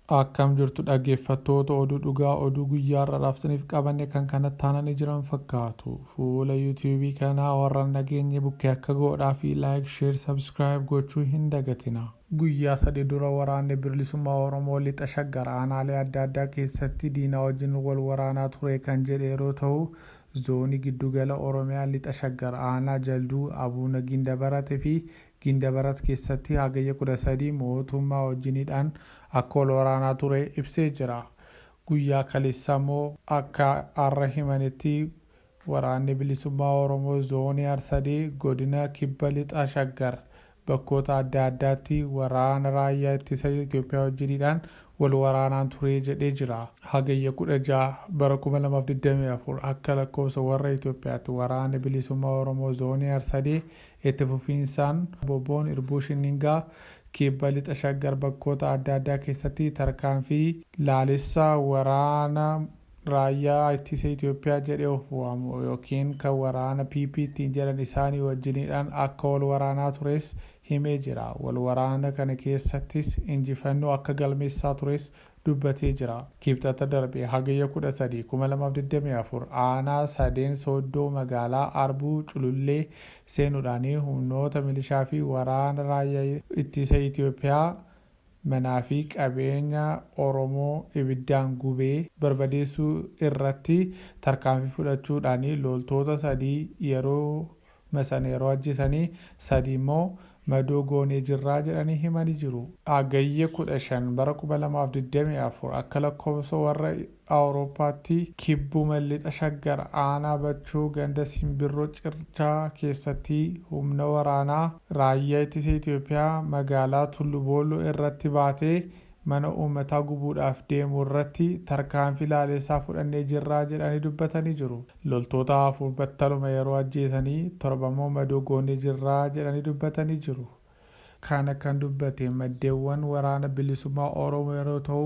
Akkam jirtu dhaggeeffattoota oduu dhugaa oduu guyyaa har'aadhaaf isiniif qabanne kan kanatti aananii jiran fakkaatu. Fuula YouTube kanaa warra hin dhageenye bukkee akka goodhaa fi like, share, subscribe gochuu hin dagatina. Guyyaa sadii dura waraanni Birlisummaa Oromoo Lixa Shaggar aanaalee adda addaa keessatti diinaa wajjin wal waraanaa ture kan jedhe yeroo tahu, Zoonii Giddugala Oromiyaa Lixa Shaggar aanaa Jalduu, Abuuna Gindabarat fi Gindabarat keessatti Hagayya 13 mootummaa wajjin hidhaan akka wal waraanaa ture ibsee jira. Guyyaa kaleessaa immoo akka har'a himanetti Waraanni Bilisummaa Oromoo Zoonii Arsadee Godina Kibba Lixa Shaggar bakkoota adda addaatti waraana raayyaa ittisa Itoophiyaa wajjin hidhaan wal waraanaan ture jedhee jira. Hagayya 16 bara 2024 akka lakkoofsa warra Itoophiyaatti Waraanni Bilisummaa Oromoo Zoonii Arsadee Itti fufiinsaan wbo'n irbuu shinningaa kibba lixa Shaggar bakkoota adda addaa keessatti tarkaanfii laalessa waraana Raayyaa Ittisa Itoophiyaa jedhee of waamu ykn kan waraana PP ittiin jedhan isaanii wajjiniidhaan akka wal waraanaa tures himee jira. Wal waraana kana keessattis injifannoo akka galmeessaa tures dubbatee jira. Kibxata darbe Hagayya 13, 2024 aanaa Sadeen Sooddoo magaalaa Arbuu Culullee seenuudhaan humnoota milishaa fi waraana raayyaa ittisa Itiyoophiyaa manaa fi qabeenya Oromoo ibiddaan gubee barbadeessuu irratti tarkaanfii fudhachuudhaan looltoota sadii yeroo ma sana yeroo ajjesanii sadii immoo madoo goonee jirraa jedhanii himani jiru. Hagayya 15 bara 2024 akka lakkoofsa warra Awurooppaatti kibbuma lixa Shaggar aanaa Bachoo ganda Simbirroo Circhaa keessatti humna waraanaa raayyaa ittisa Itoophiyaa magaalaa Tullu Boolloo irratti baatee mana uummataa gubuudhaaf deemu irratti tarkaanfii laaleessaa fudhannee jirraa jedhanii dubbatanii jiru. Loltoota afur battaluma yeroo ajjeesanii torbammoo madoo goonee jirra jedhanii dubbatanii jiru. Kana kan dubbate maddeewwan Waraana Bilisummaa Oromoo yeroo ta'u,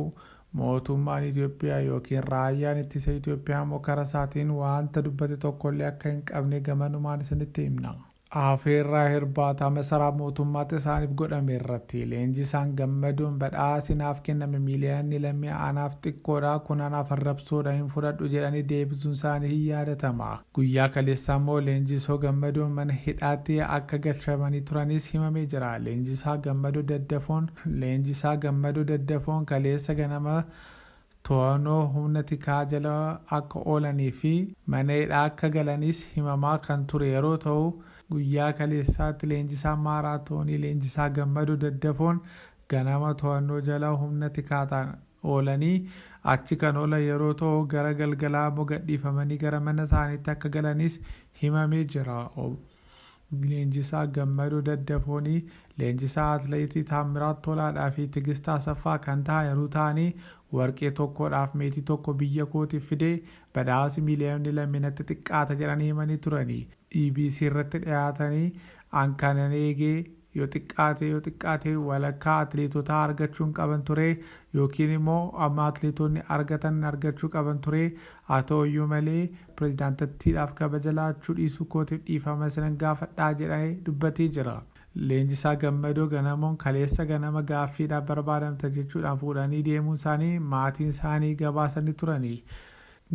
mootummaan Itoophiyaa ykn Raayyaan Ittisa Itoophiyaammoo karasaatiin waanta dubbate tokkollee akka hin qabne gamanumaan isinitti himna. Afeerraa hirbaata masaraa mootummaatti isaaniif godhame irratti Leenjisaan Gammadoon badhaasi naaf kenname miiliyanni lammii anaaf xiqqoodha kun anaaf arrabsoodha hin fudhadhu jedhanii deebisuun isaanii hin yaadatama. Guyyaa kaleessaa immoo Leenjisoo Gammadoon mana hidhaatti akka galchamanii turanis himamee jira. Leenjisaa Gammadoo Daddafoon Leenjisaa Gammadoo Daddafoon kaleessa ganama to'annoo humna tikaa jala akka oolanii fi mana hidhaa akka galanis himamaa kan ture yeroo ta'u, guyyaa kaleessaatti leenjisaan maaraatoonii leenjisaa Gammadoo Daddafoon ganama to'annoo jala humna tikaataan oolanii achi kan oolan yeroo ta'u gara galgalaa ammoo gadhiifamanii gara mana isaaniitti akka galanis himamee jira. Ob. Leenjisaa Gammadoo Daddafoon leenjisaa Atleetii Taammiraat Tolaadhaa fi Tigist Asaffaa kan tahaniru taanii warqee tokkoodhaaf meetii tokko biyya kootiif fide badhaasi miiliyoonni lammi natti xiqqaata jedhanii himanii turani EBC irratti dhiyaatanii an kanan eege yoo xiqqaate yoo xiqqaate walakkaa atleetotaa argachuun qaban ture yookiin immoo amma atleetoonni argatan argachuu qaban ture haa ta'uyyuu malee Pirezidaantattiidhaaf kabaja laachuu dhiisuu kootiif dhiifama isinan gaafadha jedhae dubbatee jira. Leenjisaa Gammadoo Ganamoon kaleessa ganama gaaffiidhaaf barbaadamta jechuudhaan fuudhanii deemuunsaanii maatiinsaanii gabaasanii turani.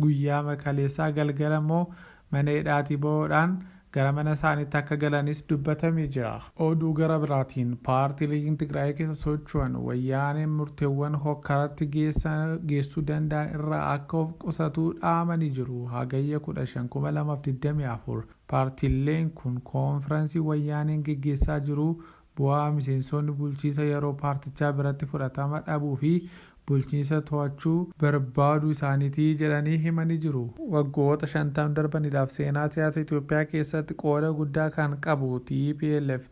Guyyaama kaleessaa galgala immoo mana hidhaatii bahuudhaan gara mana isaaniitti akka galanis dubbatamee jira. Oduu gara biraatiin paartiileen Tigraay keessa socho'an Wayyaaneen murteewwan hokkaratti geessuu danda'an irraa akka of qusatu dhaamanii jiru. Hagayya 15, 2024 paartiileen kun koonfiransii Wayyaaneen geggeessaa jiru Bu'aa miseensoonni bulchiisa yaroo paartichaa biratti fudhatama dhabuu fi bulchiinsa to'achuu barbaaduu isaaniti jedhanii himani jiru. Waggoota 50 darbaniidhaaf seenaa siyaasa Itoophiyaa keessatti qooda guddaa kan qabu tplf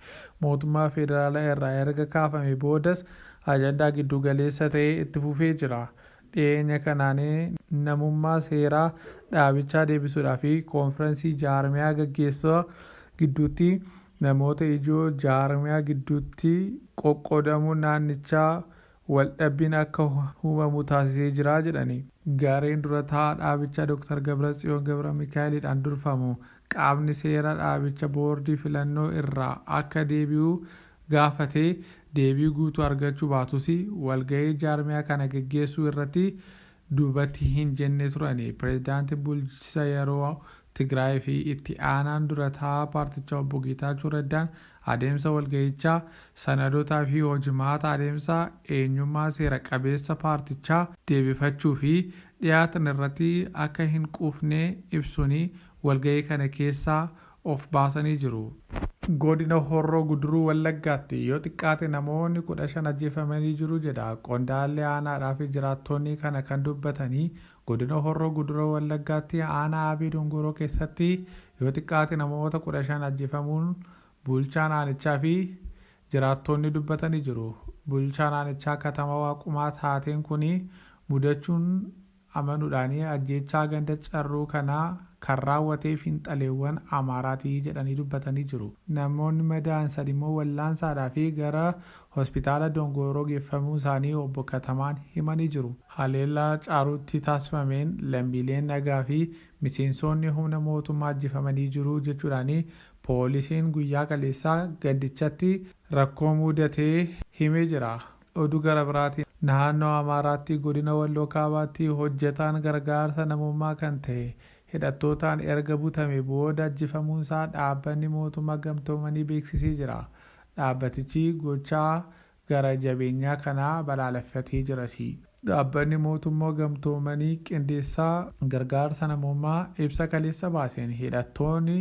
mootummaa federaalaa irraa erga kaafame boodas ajandaa giddu galeessa ta'ee itti fufee jira. Dhiyeenya kanaan namummaa seeraa dhaabichaa deebisuudhaaf konfiransii jaarmiyaa gaggeessaa gidduutti Namoota ijoo jaarmiyaa gidduutti qoqqoodamuun naannichaa waldhabbiin akka humamu taasisee jira jedhani. Gareen dura taa'aa dhaabichaa Doktar Gabratsiyoon Gabramikaa'eliidhaan durfamu qaamni seera dhaabicha boordii filannoo irraa akka deebi'u gaafatee deebii guutuu argachuu baatus walgahii jaarmiyaa kana geggeessuu irratti duubatti hin jenne turani. Pirezidaantiin bulchisa yeroo Tigraay fi itti aanaan dura taa'aa paartichaa obbo Geetaachoo Raddaan adeemsa walgahichaa, sanadoota fi hojimaata adeemsaa, eenyummaa seera qabeessa paartichaa deebifachuu fi dhiyaatan irratti akka hin quufne ibsuun walgahii kana keessaa of baasanii jiru. Godina Horroo Guduruu Wallaggaatti yoo xiqqaate namoonni 15 ajjeefamanii jiru jedha qondaalli aanaadhaa fi jiraattonni kana kan dubbatanii Godina Horroo Guduruu Wallaggaatti aanaa Aabee Dongoroo keessatti yoo xiqqaate namoota 15 ajjefamuun bulchaan aanichaa fi jiraattoonni dubbatanii jiru. Bulchaan aanichaa Katama Waaqumaa taateen kuni mudachuun amanudhaani ajjeechaa ganda Carruu kana kan raawwatee finxaleewwan Amaaraati jedhanii dubbatanii jiru. Namoonni madaa'an sadimmoo wallaansaadhaafi gara Hospitaala Dongooroo geeffamuu isaanii Obbo Katamaan himanii jiru. Haleellaa Caaruutti taasifameen lammiileen nagaa fi miseensoonni humna mootummaa ajjefamanii jiru jechuudhaan poolisiin guyyaa kaleessaa gandichatti rakkoo muudatee himee jira. Oduu gara biraatiin Naannoo Amaaraatti Godina Walloo Kaabaatti hojjetaan gargaarsa namummaa kan tahe hidhattootaan erga butame booda ajjefamuunsaa dhaabbanni mootummaa gamtoomanii beeksisee jira. Dhaabbatichi gochaa gara jabeenyaa kana balaaleffatee jirasi. Dhaabbanni Mootummoo Gamtoomanii Qindeessaa Gargaarsa Namoomaa ibsa kaleessa baaseen hidhattooni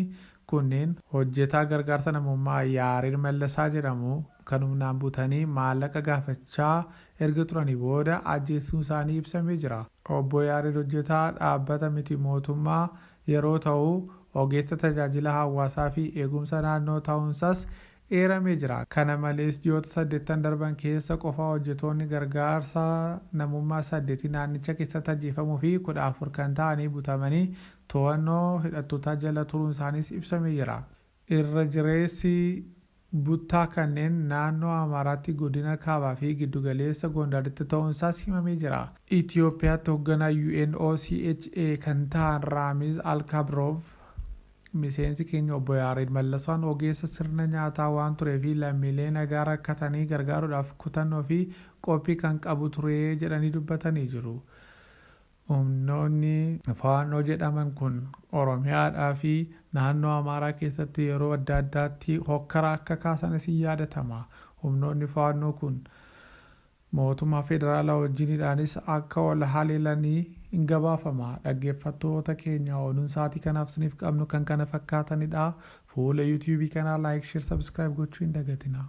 kunneen hojjetaa gargaarsa namoomaa Yaareed Mallasaa jedhamu kan humnaan butanii maallaqa gaafachaa erga turanii booda ajjeessuunsaanii ibsamee jira. Obbo Yaareed hojjetaa dhaabbata miti mootummaa yeroo ta'u, ogeessa tajaajila hawaasaa fi eegumsa naannoo ta'uunsas eeramee jira. Kana malees ji'oota saddettan darban keessa qofa hojjetoonni gargaarsa namummaa saddeti naannicha keessatti ajjeefamuu fi kudha afur kan ta'anii butamanii to'annoo hidhattootaa jala turuunsaaniis ibsamee jira. Irra jireessi buttaa kanneen naannoo Amaaraatti godina Kaabaa fi Giddugaleessa Gondaritti ta'uunsaas himamee jira. Itiyoophiyaatti hogganaa UN OCHA kan ta'an Raamiz Alkabroov miseensi keenya Obbo Yaareed Mallasaan ogeessa sirna nyaataa waan turee fi lammiilee nagaa rakkatanii gargaaruudhaaf kutannoo fi qophii kan qabu ture jedhanii dubbatanii jiru. Humnoonni Faannoo jedhaman kun Oromiyaadhaa fi naannoo Amaaraa keessatti yeroo adda addaatti hokkara akka kaasanis in yaadatama. Humnoonni Faannoo kun mootummaa federaalaa wajjinidhaanis akka wal haleelani in gabaafama. Dhaggeeffattoota keenya oduun sa'aatii kanaaf isiniif qabnu kan kana fakkaatanidha. Fuula YouTube kanaa Like, Share, Subscribe gochuu hin dagatinaa.